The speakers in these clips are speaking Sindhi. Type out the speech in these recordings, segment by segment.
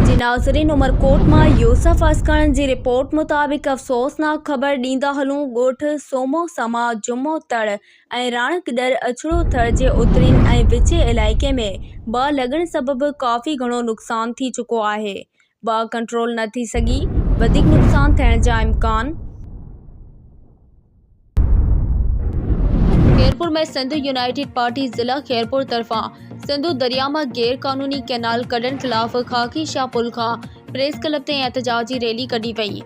جي ناظرين عمرڪوٽ مان يوسف اسڪڻ جي رپورٽ مطابق افسوسناڪ خبر ڏيندا هلون ڳوٺ سومو سما جمعو تڙ ۽ راڻڪڏر اڇڙو ٿر جي اترين ۽ وچين علائقي ۾ باهه لڳڻ سبب ڪافي گهڻو نقصان ٿي چڪو آهي باهه ڪنٽرول نه ٿي سگهي، وڌيڪ نقصان ٿيڻ جا امڪان. خيرپور ۾ سنڌ يونائيٽيڊ پارٽي ضلع خيرپور طرفان سنڌو درياء مان غير قانوني ڪئنال ڪڍڻ خلاف خاڪي شاهه پل کان پريس ڪلب تائين احتجاجي ريلي ڪڍي وئي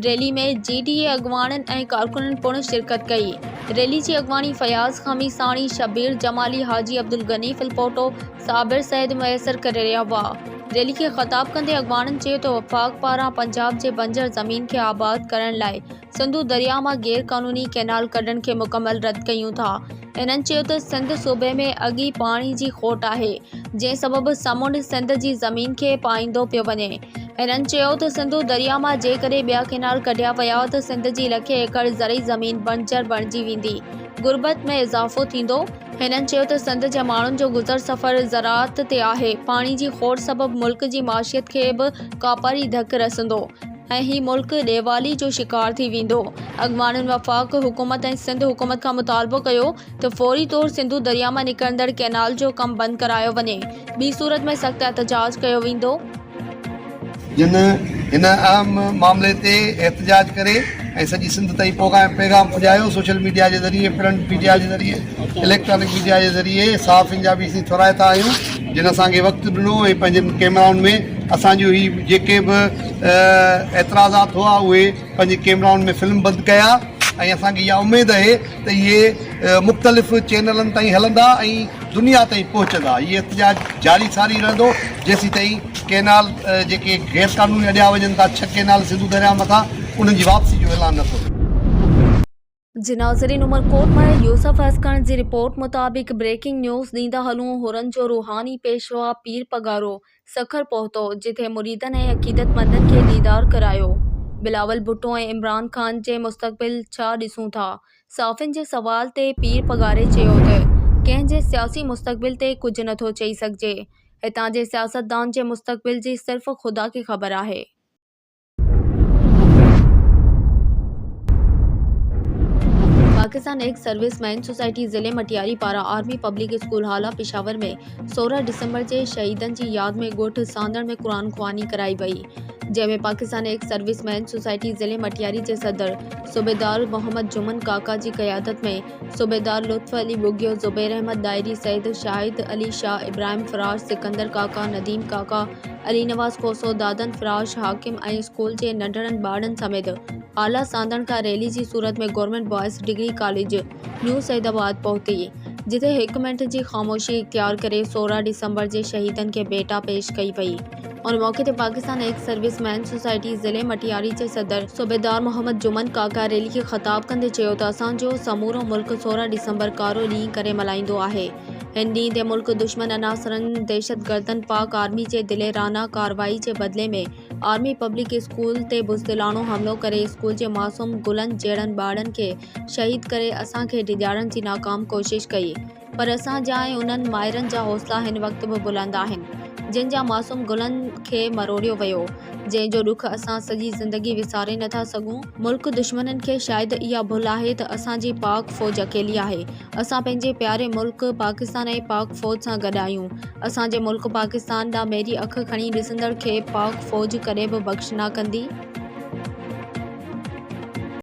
ريلي ۾ جي ڊي اي اڳواڻن ۽ ڪارڪنن پڻ شرڪت ڪئي ريلي جي اڳواڻي فياض خميساڻي شبير جمالي حاجي عبدالغني ڦلپوٽو صابر سيد ميسر ڪري رهيا هئا. ريلي کي خطاب ڪندي اڳواڻن چيو ته وفاق پاران پنجاب جي بنجر زمين کي آباد ڪرڻ لاء سنڌو درياء مان غير قانوني ڪئنال ڪڍڻ کي مڪمل رد ڪيون ٿا. هنن چيو ته سنڌ صوبي ۾ اڳ ئي پاڻي جي کوٽ آهي جنهن سبب سمنڊ سنڌ جي زمين کي پائيندو پيو وڃي. هنن چيو ته سنڌو درياء مان جيڪڏهن ٻيا ڪئنال ڪڍيا ويا ته سنڌ جي لکين ايڪڙ زرعي زمين بنجر بڻجي ويندي، غربت ۾ اضافو ٿيندو، هنن چيو ته سنڌ جي ماڻهن جو گذر سفر زراعت تي آهي، پاڻي جي کوڙ سبب ملڪ جي معشيت کي به ڪاپاري ڌڪ رسندو ۽ هي ملڪ ڏيوالي جو شڪار ٿي ويندو، اڳواڻن وفاق حڪومت ۽ سنڌ حڪومت کان مطالبو ڪيو ته فوري طور سنڌو درياء مان نڪرندڙ ڪئنال جو ڪم بند ڪرايو وڃي، ٻي صورت ۾ سخت احتجاج ڪيو ويندو. جن هن اهم معاملي تي احتجاج ڪري ۽ سڄي سنڌ تائين پوغام پيغام پڄايو سوشل ميڊيا جي ذريعي پرنٽ ميڊيا جي ذريعي اليڪٽرانڪ ميڊيا جي ذريعي صحافين جا به اسين ٿورائتا آهيون جن اسان کي وقت ڏنو ۽ پنهنجن ڪيمرائن ۾ اسان جو هي جيڪي به اعتراضات هئا اهي پنهنجي ڪيمرائن ۾ فلم بند ڪيا ۽ اسان کي اها اميد اهي ته اهي مختلف چينلن تائين هلندا ۽ دنيا تائين پهچندا. هي احتجاج جاري ساري رهندو جيسيتائين ڪئنال جيڪي غير قانوني اڏيا وڃن ٿا ڇهه ڪئنال سنڌو درياء مٿان انهن جي واپسي جو اعلان نه ٿو ٿئي. جي ناظرين عمرڪوٽ مان يوسف هسڪڻ جي رپورٽ مطابق بريڪنگ نيوز ڏيندا هلون حورن جو روحاني پيشوا پير پڳارو سکر پهتو، جتي مريدن ۽ عقيدتمندن کي ديدار ڪرايو. بلاول ڀٽو ۽ عمران خان جي مستقبل ڇا ڏسون ٿا؟ صحافين جي سوال تي پير پگهاري چيو ته، ڪنهن جي سياسي مستقبل تي ڪجهه نٿو چئي سگهجي. هتان جي سياستدان جي مستقبل جي صرف خدا کي خبر آهي. Pakistan ex service men society ضلعي مٽياري پاران army public school Hala Peshawar ۾ سورهن ڊسمبر تي شهيدن جي ياد ۾ ڳوٺ ساندڻ ۾ قرآن خواني ڪرائي وئي جنهن ۾ Pakistan ex service men society ضلعي مٽياري جي صدر صوبيدار محمد جمن ڪاڪا جي قيادت ۾ صوبيدار لطف علي ٻگهيو، زبير احمد ڏاهري، سيد شاهد علي شاهه، ابراهيم فراش، سڪندر ڪاڪا، نديم ڪاڪا، علي نواز کوسو، دادن فراش، حاڪم ۽ اسڪول جي ننڍڙن ٻارڙن سميت اعليٰ سانڌڻ کان ريلي جي صورت ۾ government boys degree college new Saeedabad پهتي، جتي هڪ منٽ جي خاموشي اختيار ڪري سورهن ڊسمبر جي شهيدن کي ڀيٽا پيش ڪئي وئي. ان موقعي تي Pakistan ex service men society ضلعي مٽياري جي صدر صوبيدار محمد جمن ڪاڪا ريلي کي خطاب ڪندي چيو ته اسان جو سمورو ملڪ سورهن ڊسمبر ڪارو ڏينهن ڪري ملهائيندو آهي هن ڏينهن تي ملڪ دشمن عناصرن دهشتگردن پاڪ آرمي جي دليرانه ڪارروائي جي بدلي ۾ آرمي پبلڪ اسڪول تي بزدلاڻو حملو ڪري اسڪول جي معصوم گلن جهڙن ٻارڙن کي شهيد ڪري اسان کي ڊيڄارڻ جي ناڪام ڪوشش ڪئي پر اسان جا ۽ انهن مائرن جا حوصلا هن وقت به بلند آهن، جن جا معصوم گلن کي مروڙيو ويو، جنهن جو ڏک اسان سڄي زندگي وساري نه ٿا سگهون. ملڪ دشمنن کي شايد اها ڀل آهي ته اسان جي پاڪ فوج اڪيلي آهي. اسان پنهنجي پياري ملڪ پاڪستان ۽ پاڪ فوج سان گڏ آهيون. اسان جي ملڪ پاڪستان ڏانهن ميري اک کڻي ڏسندڙ کي پاڪ فوج ڪڏهن به بخش نه ڪندي.